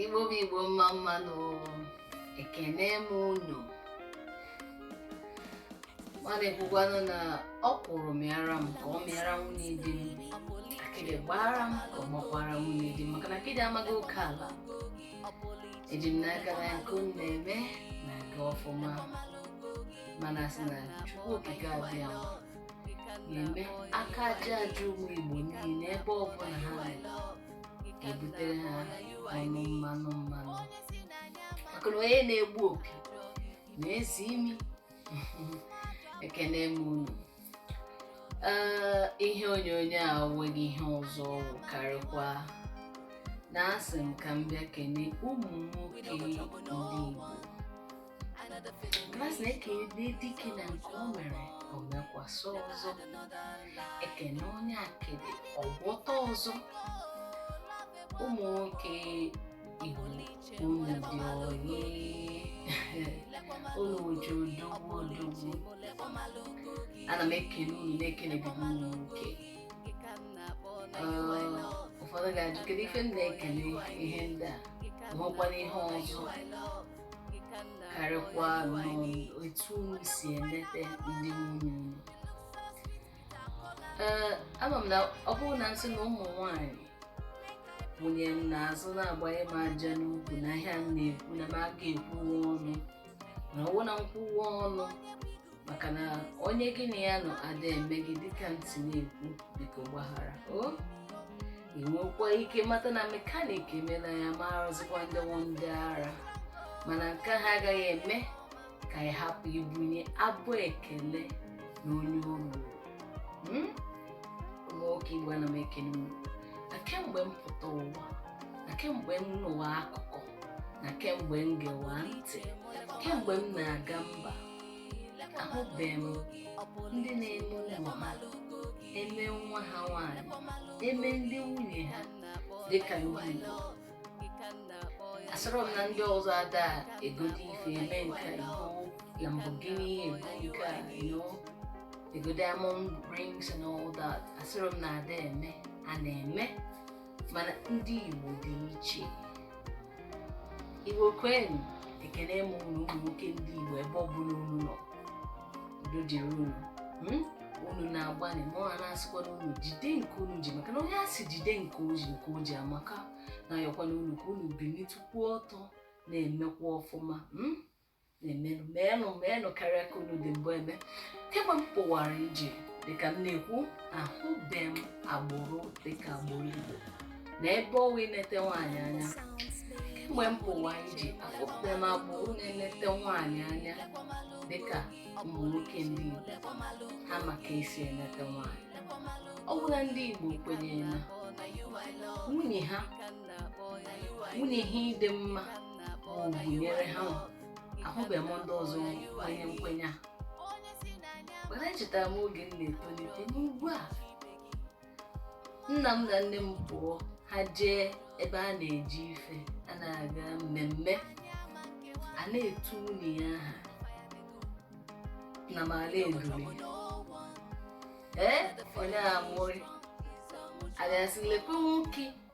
Igbo bụ Igbo mma mma nụ ekene m unu m na-ekwukwanụ na ọkwụrụ mịara m ka ọ mịara nwunye di m akịdị gbaara m ka ọ gbakwara nwunye di m maka na akịdị amaghị oke ala eji m n'aka na nke unu na-eme na-aga ọfụma m na-asị na chukwu okike abịama na-eme aka aja aja ụmụ igbo niile ebe ọ bụla ha nọ ebutere ha ọnụ mmanụ mmanụ maka na onye na-egbu opi na-esi imi ekene m unu Ee, ihe onyonyo a onweghị ihe ọzọ ọ wụ karịkwa na asị m ka m bịa kene ụmụ nwoke ndị Igbo Ma asị na ekele dike na nke o mere o mekwasị ọzọ ekene onye akịdị ọ gwọta ọzọ ụmụ nwoke Igbo unu dị oyi unu ji odogwu odogwu ana m ekele unu na-ekelebe m ụmụ nwoke Ee, ụfọdụ ga-ajụ kedu ife m na-ekele ihe ndị a ma o nwekwana ihe ọzọ karịkwa na etu unu si emete ndị nwunye unu ee ama m na ọ bụrụ na m sị na ụmụ nwanyị wụnye m n'azụ na-agbanye m aja n'ukwu na ihe a m na-ekwu na m aka ekwuwe ọnụ na ọ wụ na m kwuwe ọnụ maka na onye gị na ya nọ ada eme gị dịka aunty na-ekwu biko gbaghara o ị nwekwa ike mata na mekanik emela ya amarọzikwa ndị wụ ndị ara mana nke a agaghị eme ka ị hapụ ibunye abụ ekele na onye o ruru Hmm? nwoke igbo ana m ekele unu na kemgbe m pụta ụwa na kemgbe m nụwa akụkọ na kemgbe m gewa ntị kemgbe m na-aga mba ahụbeghị m ndị na-eme ụmụ ha eme nwa ha nwanyị eme ndị nwunye ha dịka ndị Igbo asịrọ m na ndị ọzọ ada egodi ife eme nke a, ego Lamborghini ego nke a you know, ego diamond rings and all that asịrọ m na ada eme a na-eme mana ndị Igbo dị iche Igbo kwenụ ekene m unu ụmụ nwoke ndị Igbo ebe ọ bụla unu nọ udo dịrị unu hmm? unu na-agbalị m na-asịkwanụ unu jide nke unu ji maka na onye a sị jide nke o ji nke o ji amaka na-ayọkwanụ unu ka unu bilitukwuo ọtọ na-emekwa ọfụma hmm? na-emenụ meenụ meenụ karịa ka unu dị mbụ eme kemgbe m pụwara ije dịka m na-ekwu ahụbe m agbụrụ dịka agbụrụ igbo na ebe ọ wụ inete nwaanyị anya kemgbe m pụwa ije afụbe m agbụrụ na-enete nwaanyị anya dịka ụmụ nwoke ndị igbo ha ma ka e si enete nwaanyị ọ bụla ndị igbo kwenyere na nwunye ha nwunye ha ịdị mma gụnyere ha ahụbeghị m ndị ọzọ kwenye nkwenye a mana echetara m oge m na-etolite n'ugwu a nna m na nne m pụọ ha jee ebe a na-eji ife a na-aga mmemme a na-etu nwunye ya aha na mara edule ee onye amụrị a ga-asị lekwe nwoke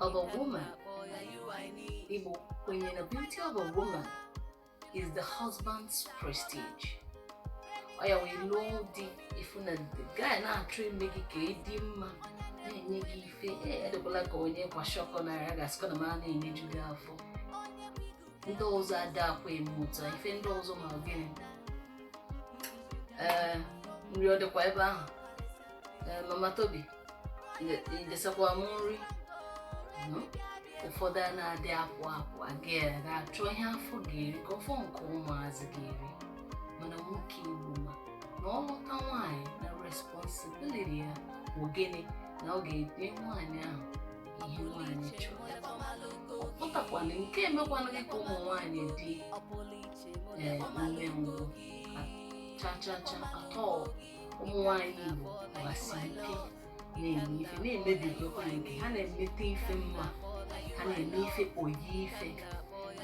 of a woman. Igbo kwenyere na beauty of a woman is the husband's prestige. Ọ ya wee lụọ di ị fụ na the guy na-achọ ime gị ka ị dị mma na-enye gị ife adịkwala ka onye kwashiorkor na ya ga-asịkwa na mara na-enyeju gị afọ ndị ọzọ adakwa eme otu a ife ndị ọzọ ma gịnị ee nri ọ dịkwa ebe ahụ ee mama tobi i desakwa m nri hmm? ụfọdụ anadị apụ apụ aga ya ga-achọ ihe afọ ga-eri ka ọ fọ nke ụmụazị ga-eri mana nwoke igbo ma na ọ lụta nwaanyị na responsibility ya bụ gịnị na ọ ga-enye nwaanyị ahụ ihe nwaanyị chọrọ ọ pụtakwana nke emekwana gị ka ụmụ nwaanyị dị ee umengwụ cha cha cha at all ụmụ nwaanyị Igbo gbasi ike na-eme ife na-emebigokwa nke ha na-emete ife mma ha na-eme ife oyi ife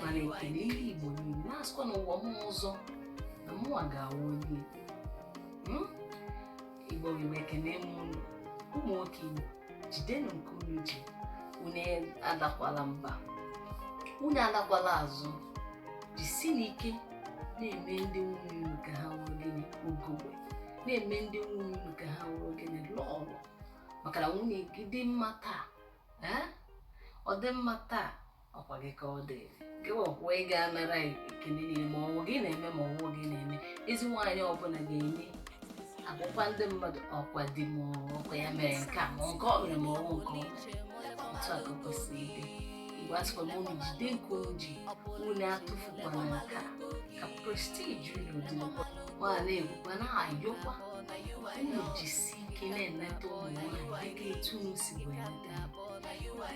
m na-ekene ndị Igbo niile na-asịkwa n'ụwa m ọzọ na mụnwa ga-awụ onye Igbo Igbo ekene m ụmụ nwoke Igbo jidenụ nke unu ji unu adakwala mba unu alakwala azụ jisinụ ike na-eme ndị nwunye unu ka ha nwee gịnị ugogbe na-eme ndị nwunye unu ka ha nwee gịnị lọọlọ maka na nwunye gị dị mma taa ee ọ dị mma taa ọkwa gị ka ọ dịrị ọkwa ị ga-anara ekene niile ma ọwụ gị na-eme ma ọwụ gị na-eme ezi nwaanyị ọbụla ga-eje akọrọ ndị mmadụ ọkwa di m ọkwa ya mere nke a ma nke ọ mere ma ọwụ nke ọ otu a ka o kwesịrị ịdị Igbo asịkwa m unu jide nke unu ji unu atụfukwana nke a ka prestige unu dị m na-ekwukwa na-ayọkwa unu jisi ike na-eneta ụmụ nwaanyị dịka etu unu si wee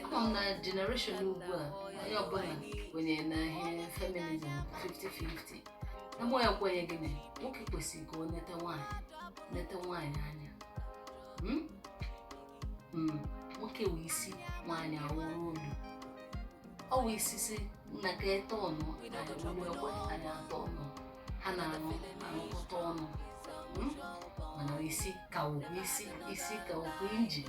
ama m na generation ugbu a onye ọbụla kwenyere na ihe feminism 50-50 na mụwa kwenyere na nwoke kwesịrị ka ọ neta nwaanyị neta nwaanyị anya Mm? Mm, nwoke wụ isi nwaanyị awụrụ olu ọ wụ isi si nna ka ete ọnụ ekwe anyị atọ ọnụ ha na-arụ arụkọta ọnụ Mm? mana isi ka wụ isi isi ka wụ injin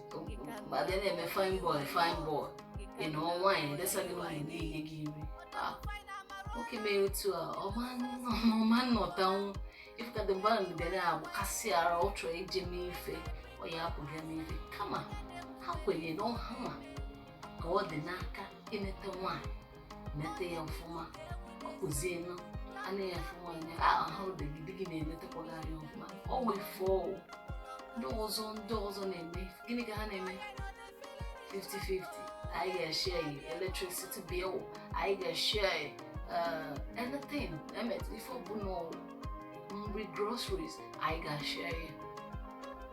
ma bịa na-eme fine boy fine boy ị nọ nwaanyị edesa gị nwaanyị na-enye gị nri Ah, nwoke mere otu a ọ ma nọ- ọ ma nọtanwu ị fụ ka the man ga na-agbakasị ara ọ chọrọ ije mee ife ọ ya-apụ bịa mee ife kama ha kwenyere na ọ hanwa ka ọ dị n'aka inete nwaanyị nete ya ọfụma ọ kụzienụ anya ya fụọ anya ahụ di gị di gị na-enetakwa gị anya ọfụma ọ wee fụọ ndị ọzọ ndị ọzọ na-eme gịnị ka ha na-eme 50-50 anyị ga-eshare ya electricity bill anyị ga-eshare ya uh, anything e mete ife ọbụla nri groceries anyị ga-eshare ya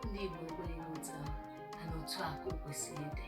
ndị Igbo ekwerọ na otu a na otu a ka o kwesịrị ịdị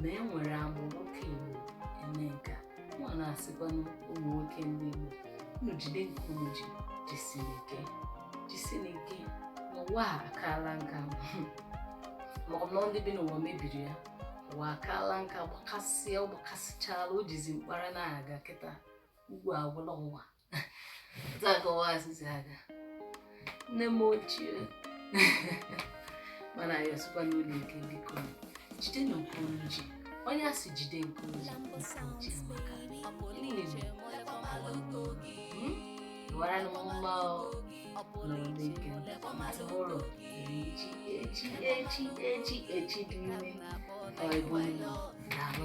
na e nwere agbụrụ nwoke Igbo eme nke a mụ na-asịkwanụ ụmụ nwoke ndị Igbo unu jide nke unu ji jisiri ike jisiri ike na ụwa akaala nka ma ọ bụ na ndị bi n'ụwa mebiri ya ụwa akaala nka gbakasịa ọ gbakasịchala o jizi mkpara na-aga kịta ugwu agwụla ụwa akọwa asịsị aga nne m ochie mana ya sikwa unu ike biko jide na nke unu ji onye a sị jide nke unu ji nke o ji amaka mara na mma nọrọ n'ike ụlọ echi echi echi echi echi dị ime ọ bụ na ahụ